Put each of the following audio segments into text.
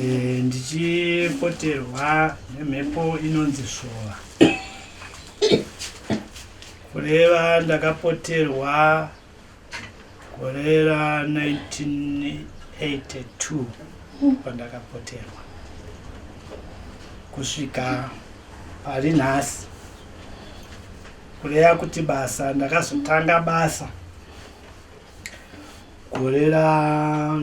Eh, ndichipoterwa nemhepo inonzi svova kureva ndakapoterwa gore ra 1982 pandakapoterwa kusvika pari nhasi kureva kuti basa ndakazotanga basa gore ra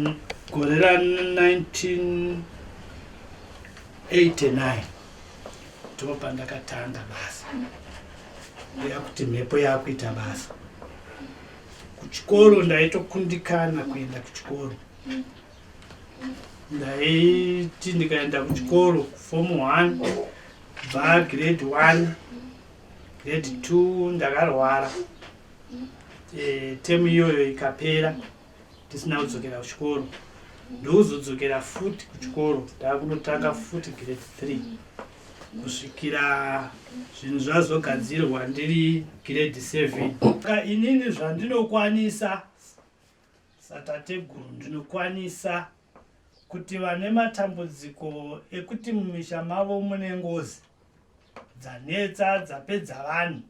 gore ra 1989 ndipo pandakatanga basa ndeya kuti mhepo yakuita basa kuchikoro ndaitokundikana kuenda kuchikoro ndaiti ndikaenda kuchikoro kufom one bva grade one grade two ndakarwara e, temu iyoyo ikapera tisina kudzokera kuchikoro ndouzodzokera futi kuchikoro taakunotanga futi grade three kusvikira zvinhu zvazogadzirwa ndiri grade seven ka inini zvandinokwanisa satateguru ndinokwanisa kuti vane matambudziko ekuti mumisha mavo mune ngozi dzanetsa dzapedza vanhu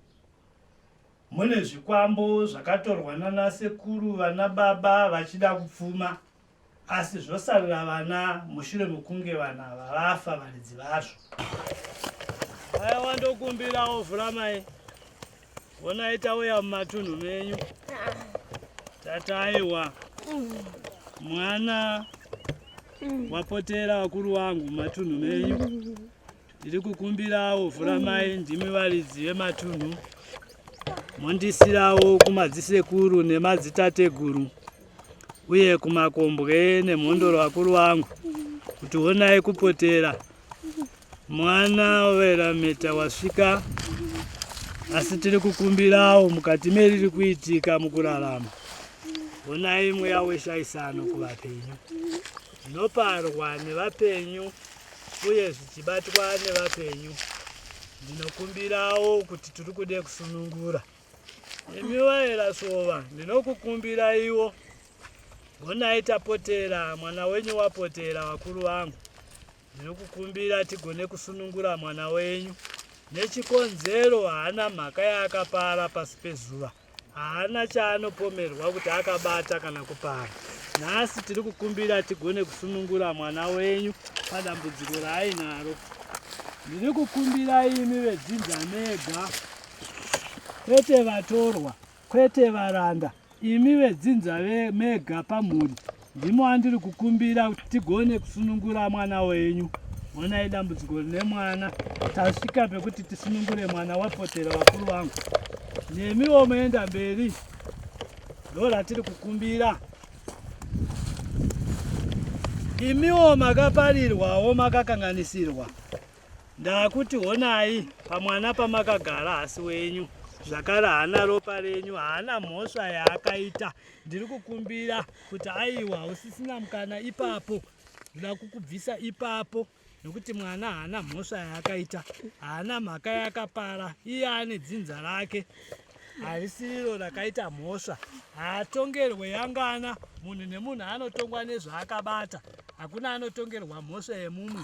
Mune zvikwambo zvakatorwa nana sekuru vana baba vachida kupfuma asi zvosarira vana mushure mekunge vana ava vafa varidzi vazvo. Aya wandokumbirawo vhura mai vonai tauya mumatunhu menyu tataiwa mwana wapotera vakuru wangu mumatunhu menyu Ndiri kukumbirawo Vhuramai ndimi varidzi vematunhu mondisirawo kumadzisekuru nemadzitateguru uye kumakombwe nemhondoro vakuru vangu kuti honai kupotera mwana werameta wasvika asi tiri kukumbirawo mukati meriri kuitika mukurarama honai mweya weshaisano kuvapenyu Zvinoparwa nevapenyu uye zvichibatwa nevapenyu, ndinokumbirawo kuti tiri kude kusunungura. Imi vaerasova, ndinokukumbiraiwo, gonai tapotera mwana wenyu wapotera vakuru vangu, Ndinokukumbira tigone kusunungura mwana wenyu nechikonzero haana mhaka yaakapara pasi pezuva haana chaanopomerwa kuti akabata kana kupara nhasi tiri kukumbira tigone kusunungura mwana wenyu padambudziko raainaro ndiri kukumbira imi vedzinza mega kwete vatorwa Kwete varanda, imi vedzinza ve mega pamhuri ndimo andiri kukumbira kuti tigone kusunungura mwana wenyu. Honai dambudziko rine mwana, tasvika pekuti tisunungure mwana wapotera vakuru vangu. Nemiwo moenda mberi, ndo ratiri kukumbira. Imiwo makaparirwawo makakanganisirwa Ndakuti honai pamwana pamakagara hasi wenyu zvakare haana ropa renyu haana mhosva yaakaita ndiri kukumbira kuti aiwa hausisina mukana ipapo ndoda kukubvisa ipapo nokuti mwana haana mhosva yaakaita haana mhaka yakapara iye ane dzinza rake harisiriro rakaita mhosva haatongerwe yangana munhu nemunhu anotongwa nezvaakabata hakuna anotongerwa mhosva yemumwe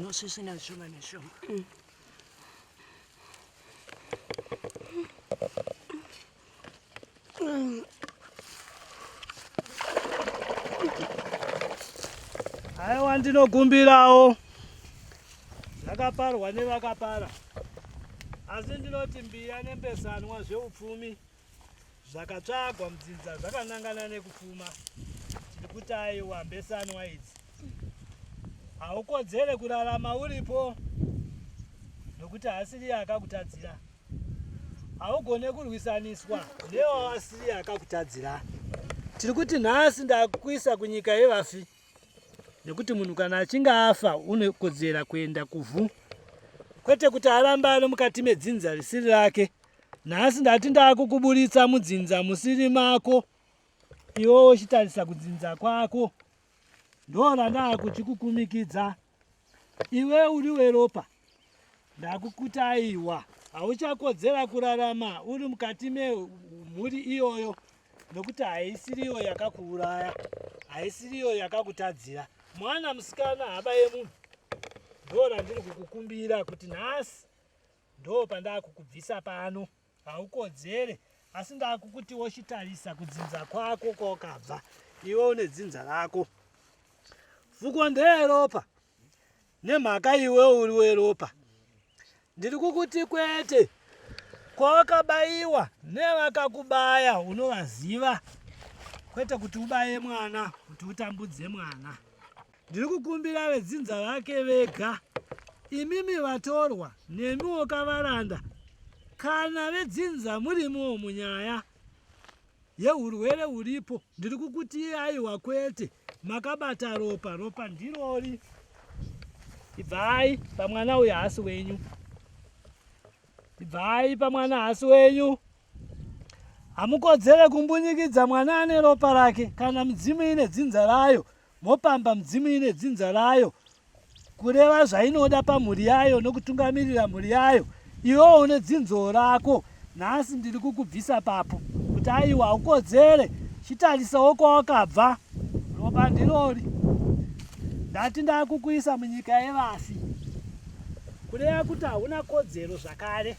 nosvisvina zvishoma nezvishoma mm. haiwa ndinogumbirawo zvakaparwa nevakapara asi ndinoti mbiya nembesanwa zveupfumi zvakatsvagwa mudzinza zvakanangana nekufuma tiri kuti aiwa mbesanwa idzi haukodzere kurarama uripo nokuti haasiriye akakutadzira haugone kurwisaniswa newawasiriye akakutadzira tiri kuti nhasi ndakuisa kunyika yevafi nekuti munhu kana achinge afa unokodzera kuenda kuvhu kwete kuti aramba ari mukati medzinza risiri rake nhasi ndati ndakukuburitsa mudzinza musiri mako iwo uchitarisa kudzinza kwako ndorandaakuchikukumikidza iwe uri weropa ndakukutaiwa hauchakodzera kurarama uri mukati memhuri iyoyo nokuti haisiriyo yakakuuraya haisiriyo yakakutadzira mwana musikana haba yemunhu ndo randiri kukukumbira kuti nhasi ndo pandakukubvisa pano haukodzere asi ndakukuti wochitarisa kudzinza kwako kwawakabva iwe une dzinza rako fuko ndeyeropa nemhaka iwe uri weropa ndiri kukuti kwete kwawakabayiwa nevakakubaya unovaziva kwete kuti ubaye mwana kuti utambudze mwana Ndiri kukumbira vedzinza vake vega, imimi vatorwa nemiwo kavaranda, kana vedzinza murimiwo munyaya yeurwere uripo, ndiri kukuti aiwa kwete, makabata ropa, ropa ndirori. Ibvai pamwana uyu haasi wenyu, ibvai pamwana haasi wenyu hamukodzere kumbunyikidza mwana ane ropa rake kana midzimu ine dzinza rayo mopamba mudzimu ine dzinza rayo kureva zvainoda pamhuri yayo nokutungamirira mhuri yayo iwewo une dzinzo rako nhasi ndiri kukubvisa papo kuti aiwa haukodzere chitarisawo kwawakabva ropa ndirori ndati ndakukuisa munyika yevafi kureva kuti hauna kodzero zvakare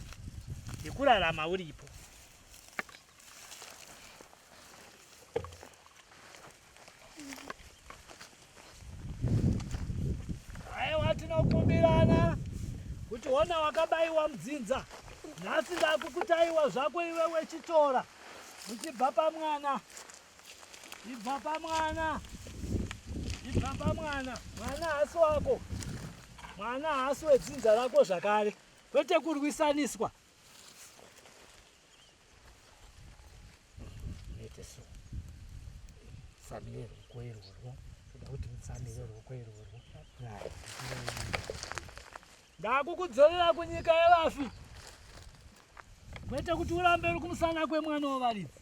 yekurarama uripo Aiwa, tinokumbirana kuti ona wakabaiwa mudzinza nhasi ndakukutaiwa zvako iwe wechitora uchibva pamwana ibva pamwana ibva pamwana mwana hasi wako mwana hasi wedzinza rako zvakare kwete kurwisaniswa so family rwokwerurwo toda kuti mufamily rwokwerurwo ndakukudzorera kunyika yevafi kwete kuti urambe uri kumusana kwemwana wevaridzi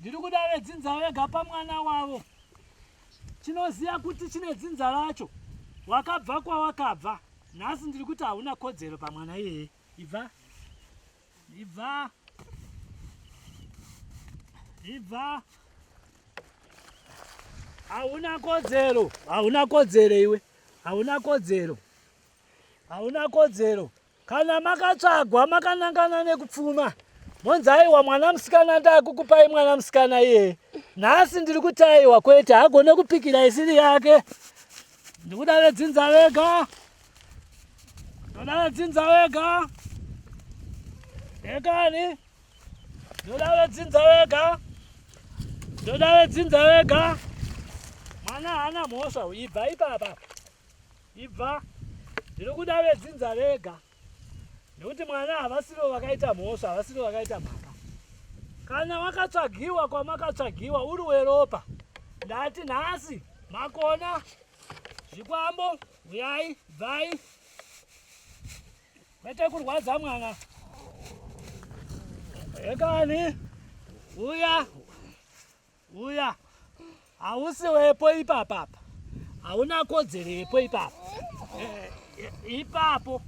Ndiri kuda vedzinza vega pamwana wavo. Chinoziva kuti chine dzinza racho. Wakabva kwawakabva. Nhasi ndiri kuti hauna kodzero pamwana iyeye. Ibva. Ibva. Ibva. Hauna kodzero. Hauna kodzero iwe. Hauna kodzero. Hauna kodzero. Kana makatsvagwa makanangana nekupfuma monzi aiwa mwana musikana ndakukupai mwana musikana iye nhasi ndiri kuti aiwa kwete hagone kupikira isiri yake ndikuda vedzinza vega ndoda vedzinza vega ekani ndoda vedzinza vega ndoda vedzinza vega mwana haana mhosva ibva ipapa ibva ndiri kuda vedzinza vega nekuti mwana havasivo vakaita mhosva havasivo vakaita mhaka kana wakatsvagiwa kwamakatsvagiwa uri weropa ndati nhasi makona zvikwambo uyai bvai kwete kurwadza mwana ekani uya Uya. Hausi wepo ipapa apa. Hauna kodzero yepo ipapa. Eh, eh, ipapo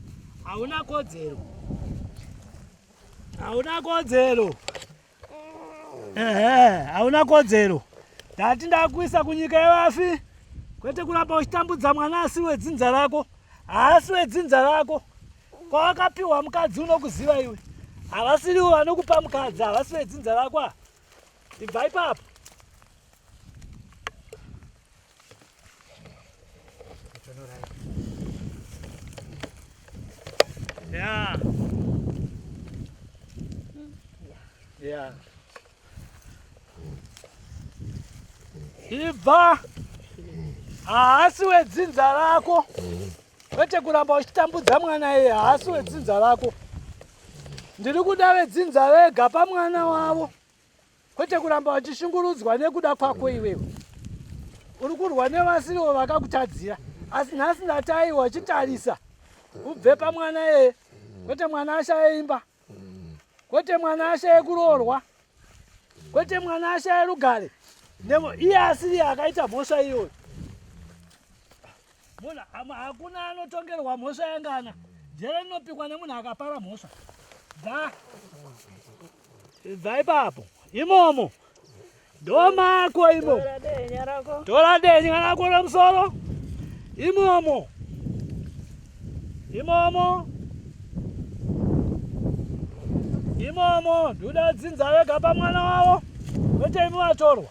hauna kodzero. Hauna kodzero. Ehe, hauna kodzero. Ndati ndakuisa kunyika yevafi. Kwete kuramba uchitambudza mwana asi wedzinza rako. Haasi wedzinza rako. Kwawakapiwa mukadzi unokuziva iwe. Havasiriwo vanokupa mukadzi, havasi vedzinza rako. Ibva ipapo. Yeah. Yeah. Ibva. Haasi wedzinza rako. Kwete kuramba uchitambudza mwana iye, haasi wedzinza rako. Ndiri kuda vedzinza vega pamwana wavo kwete kuramba vachishungurudzwa nekuda kwako iwewe. Uri kurwa nevasiriwo vakakutadzira asi nhasi ndatai wachitarisa ubve pamwana yeye kwete mwana ashaye imba kwete mwana ashaye kuroorwa kwete mwana ashaye rugare iye asiri akaita mhosva iyoyo Mona ama hakuna anotongerwa mhosva yangana. Jere rinopikwa nemunhu akapara mhosva. Dza. Dza ipapo. Imomo. Doma ko imo. Tora denye rako. Tora denye rako romsoro. Imomo. Imomo. Imomo. Duda dzinza vega pamwana wavo. Kwete imi vatorwa.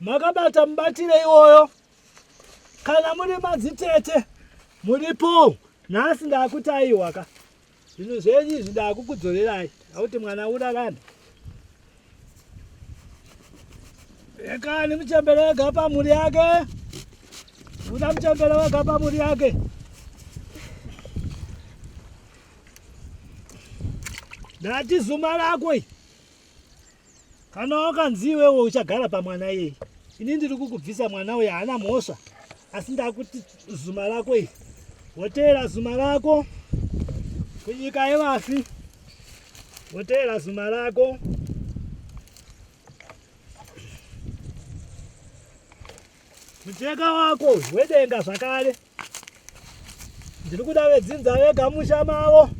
makabata mubatire iwoyo kana muri madzitete muripo nhasi ndakuti aiwaka zvinhu zvenyu izvi ndakukudzorerai akuti mwana urarani ekani muchembere wega pamhuri yake uda muchembere wega pamhuri yake ndati zuma rako kana wakanzi iwewe uchagara pamwana iyeye ini ndiri kukubvisa mwana uye haana mhosva asi ndakuti zuma rako iri woteera zuma rako kunyika yevafi woteera zuma rako mucheka wako wedenga zvakare ndiri kuda vedzinza vega musha mavo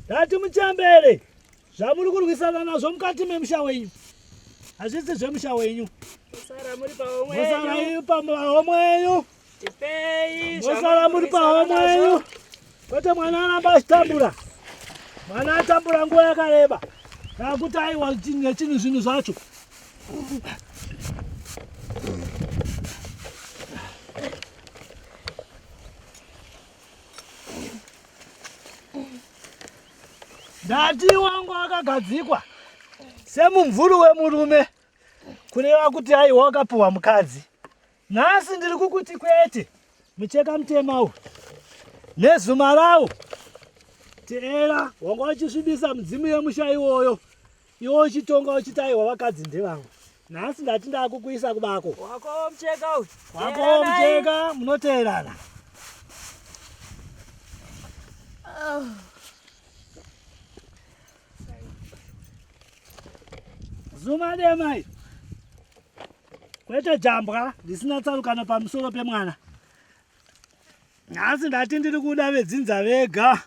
ndati muchembere zvamuri kurwisana nazvo mukati memusha wenyu hazvisi zvemusha wenyu mosara muri pahomwe yenyu mosara muri pahomwe yenyu kwete mwana aramba achitambura mwana atambura nguva yakareba kana kuti aiwa nechinhu zvinhu zvacho Ndati wangu wakagadzikwa semumvuri wemurume kureva kuti aiwa wakapuhwa mukadzi. Nhasi ndiri kukuti kwete mucheka mutema uyu nezuma rawo teera wanga wachisvibisa mudzimu yemusha iwoyo Iwe uchitonga uchiti aiwa vakadzi ndevangu. Nhasi ndati ndakukuisa kubako. Wako mcheka uyu. Wako mcheka munoteerana. Oh. Zuma demai. Kwete jambwa risina tsarukano pamusoro pemwana. Nhasi ndati ndiri kuda vedzinza vega.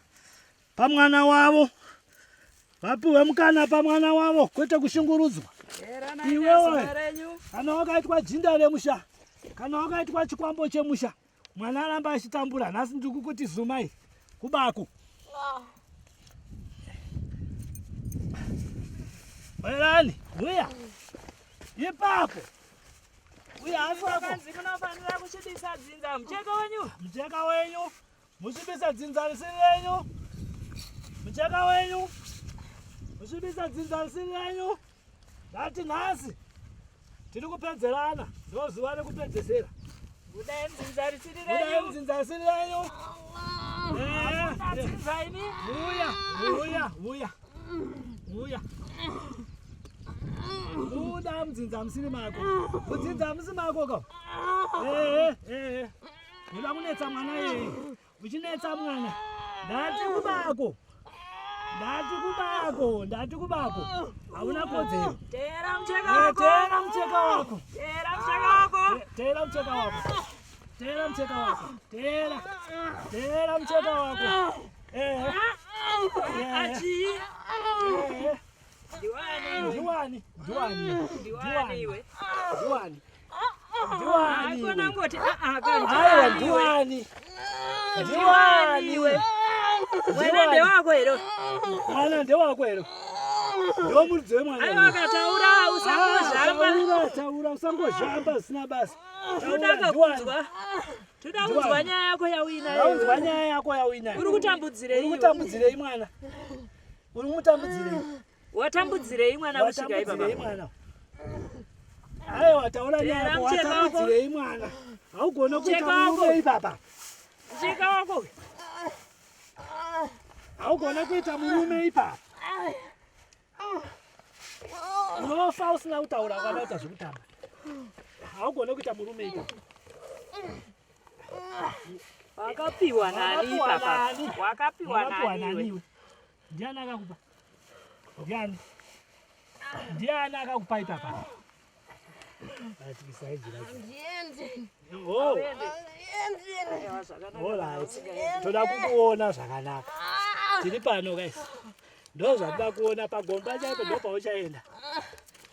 pamwana wavo vapiwe mukana pamwana wavo kwete kushungurudzwa iwewe kana wakaitwa jinda remusha kana wakaitwa chikwambo chemusha mwana aramba achitambura nhasi ndikukuti zumai kubaku werani uya ipapo uya asoakanzi munofanira kuchidisa dzinza mucheka wenyu mucheka wenyu Musvibisa dzinza risiri renyu, mucheka wenyu, musvibisa dzinza risiri renyu. Ndati nhasi tiri kupedzerana, ndozuva rekupedzesera. Budai mudzinza risiri renyu, budai mudzinza risiri renyu. Vuya, vuya, vuya, vuya. Buda mudzinza musiri mako, mudzinza musi mako ka. Eh, eh, eh. Ndoda kunetsa mwana yeye. Uchinetsa mwana. Ndati kubako. Ndati kubako, ndati kubako. Hauna kodzero. Teera mcheka eh, wako. Teera mcheka wako. Teera mcheka wako. Eh, teera mcheka wako. Teera mcheka wako. Teera. Teera mcheka wako. Eh. eh. Achi. Diwani. Diwani. Diwani. Diwani. Diwani. mwana ndewako here mwana ndewako here ndiwo muridzi wemwana aiwa akataura usangozhamba ah, taura usangozhamba zvisina basa todaka kunzwa toda kunzwa nyaya yako yauinayounzwa nyaya yako yauinayo uri kutambudzirei uri kutambudzirei mwana uri kumutambudzirei Watambudzirei mwana kusvika ipa mwana? Ayo wataona nyaya watambudzirei mwana? Haugona kuita murume ipapa. Cheka wako. Haugona kuita murume ipapa. Unofa usina kutaura kana uta zvekutamba. Haugona kuita murume ipapa. Wakapiwa nani ipapa? Wakapiwa nani? Ndiani akakupa? Ndiani? Ndiani akakupa ipapa? Toda kukuona zvakanaka. Tiri pano guys. Ndozvatoda kuona pagomba chaipo ndopauchaenda.